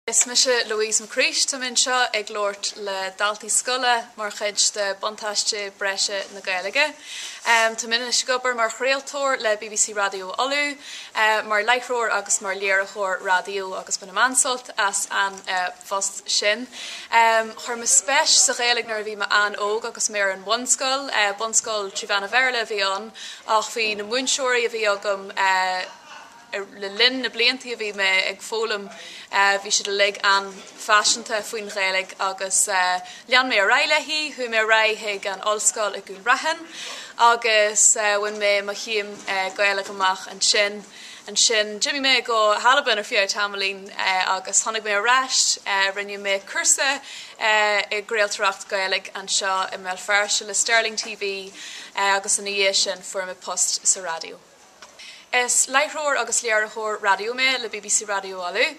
Is mise Louise McCreesh, táim anseo ag labhairt le daltaí scoile mar chuid de Buntáiste Breise na Gaeilge. Táim anois ag obair mar chraoltóir le BBC Raidió Uladh, mar láithreoir agus mar léiritheoir raidió agus bainim an-sult as an. phost sin. Chuir mé spéis sa Ghaeilge nuair a bhí mé an-óg agus mé ar an bhunscoil. Bunscoil trí mheán an Bhéarla a bhí ann ach bhí na múinteoirí a bhí agam le linn na bliantaí a bhí mé ag foghlaim, bhí siad uilig an-phaiseanta faoin Ghaeilge agus lean mé ar aghaidh léi. Chuaigh mé ar aghaidh chuig an ollscoil i gCúil Raithin agus bhain mé mo chéim Gaeilge amach ansin. Ansin d'imigh mé go hAlbain ar feadh tamaillín agus tháinig mé ar ais. Rinne mé cúrsa i gcraoltóireacht Ghaeilge anseo i mBéal Feirste le Stirling TV agus ina dhiaidh sin fuair mé post sa raidió. Is láithreoir agus léiritheoir raidió mé le BBC Raidió Uladh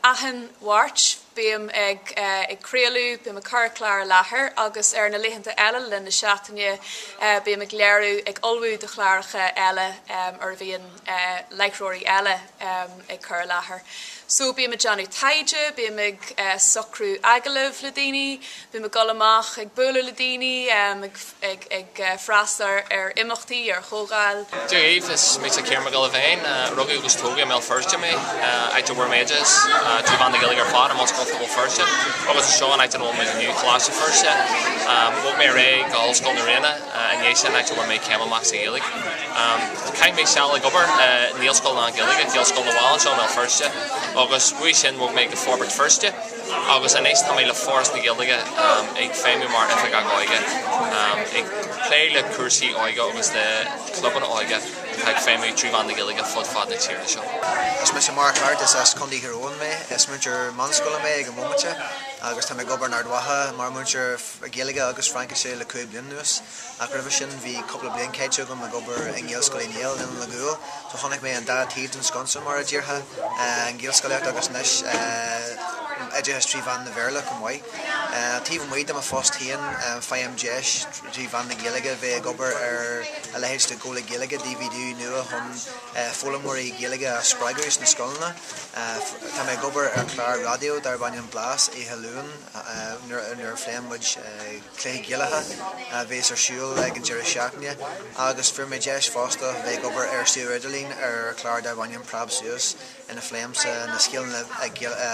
achan Mháirt. Bím ag craoladh, bím ag cur clár i láthair agus ar na laethanta eile le linn na seachtaine bím ag léiriú, ag ullmhú do chláracha eile ar a bhíonn láithreoirí eile ag cur i láthair. So bím ag déanamh taighde, bím ag socrú agallamh le daoine. Bím ag dul amach ag bualadh le daoine, ag freastal ar imeachtaí, ar chomhdháil. Dia dhaoibh, is mise Ciarán Mac Giolla Bhéin. Rugadh agus tógadh i mBéal Feirste mé, áit a bhfuair mé oideachas trí mheán na Gaeilge ar fad, i mBunscoil Phobal Feirste agus anseo an áit ina bhfuil mé inniu, Coláiste Feirste. Bhog mé ar aghaidh go hOllscoil na Ríona i ndiaidh sin, áit a bhfuair mé céim amach sa Ghaeilge. Chaith mé seal ag obair i naíscoil lán-Gaeilge, Gaelscoil na bhFál, anseo i mBéal Feirste agus uaidh sin bhog mé go Forbairt Feirste, agus anois tá mé le Foras na Gaeilge ag feidhmiú mar Oifigeach Óige, ag plé le cúrsaí óige agus le clubanna óige atá ag feidhmiú trí mheán na Gaeilge fud fad na tíre seo. Is mise Mark Harte, is as Contae Thír Eoghain mé, is múinteoir meánscoile mé ag an bhomaite agus táim ag obair in Ard Mhacha mar mhúinteoir Gaeilge agus Fraincise le cúig bliana anuas. Ach roimhe sin bhí cúpla bliain caite agam ag obair i nGaelscoil Uí Néill, Oileán an Ghuail, so chonaic mé an dá taobh den sconsa mar a déarfá, an Ghaelscolaíocht agus anois oideachas trí mheán an Bhéarla chomh maith. Taobh amuigh de mo phost féin faighim deis trí mheán na Gaeilge bheith ag obair ar a leithéid de Ghola Gaeilge, DVD nua chun foghlaimeoirí Gaeilge a spreagadh sna scoileanna. Tá mé ag obair ar chlár raidió darb ainm Blas oíche Luain nuair a phléann muid, Cluichí Gaelacha a bheas ar siúl ag an deireadh seachtaine agus fuair mé deis fosta bheith ag obair ar suíomh Idirlín ar chlár darb ainm Preab Suas ina phléimse na scileanna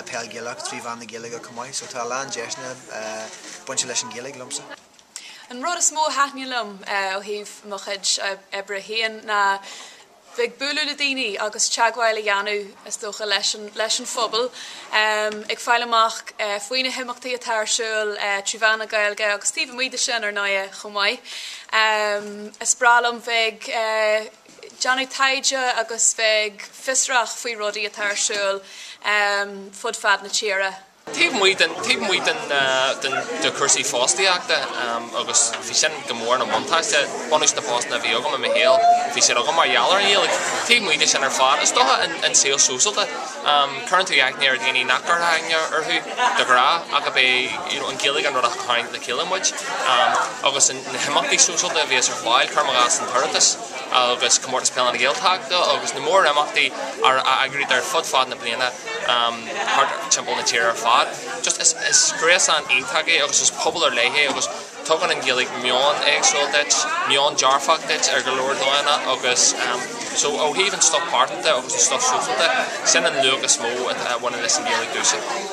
peil Ghaelach trí mheán na Gaeilge chomh maith so tá a lán deiseanna bainte leis an Ghaeilge liomsa. An rud is mó a thaitníonn liom ó thaobh mo chuid oibre féin ná bheith ag bualadh le daoine agus teagmháil a dhéanamh is dócha leis an phobal, ag fáil amach faoi na himeachtaí atá ar siúl trí mheán na Gaeilge agus taobh amuigh de sin ar ndóigh chomh maith. Is breá liom bheith ag déanamh taighde agus bheith ag fiosrach faoi rudaí atá ar siúl fud fad na tíre. Taobh amuigh den, taobh amuigh de chúrsaí fostaíochta agus bhí sin go mór ina bhuntáiste, bunús na bpostanna a bhí agam i mo shaol, bhí siad agam mar gheall ar an nGaeilge. Taobh amuigh de sin ar fad, is dócha an an saol sóisialta, cuireann tú aithne ar dhaoine nach gcuirfeá aithne orthu de ghnáth ach ab é you know an Ghaeilge an rud a tharraing le chéile muid agus na himeachtaí sóisialta a bhíos ar fáil, cuir i gcás an tOireachtas. agus Comórtas Peile na Gaeltachta agus na mórimeachtaí a eagraítear ar fud fad na bliana thart timpeall na tíre ar fad. Just is gréasán iontach é agus is pobal ar leith é agus tugann an Ghaeilge meon éagsúil duit, meon dearfach duit ar go leor dóigheanna agus so ó thaobh an stuif pearsanta agus an stuif sóisialta, sin an luach is mó a bhaineann leis an Ghaeilge domhsa.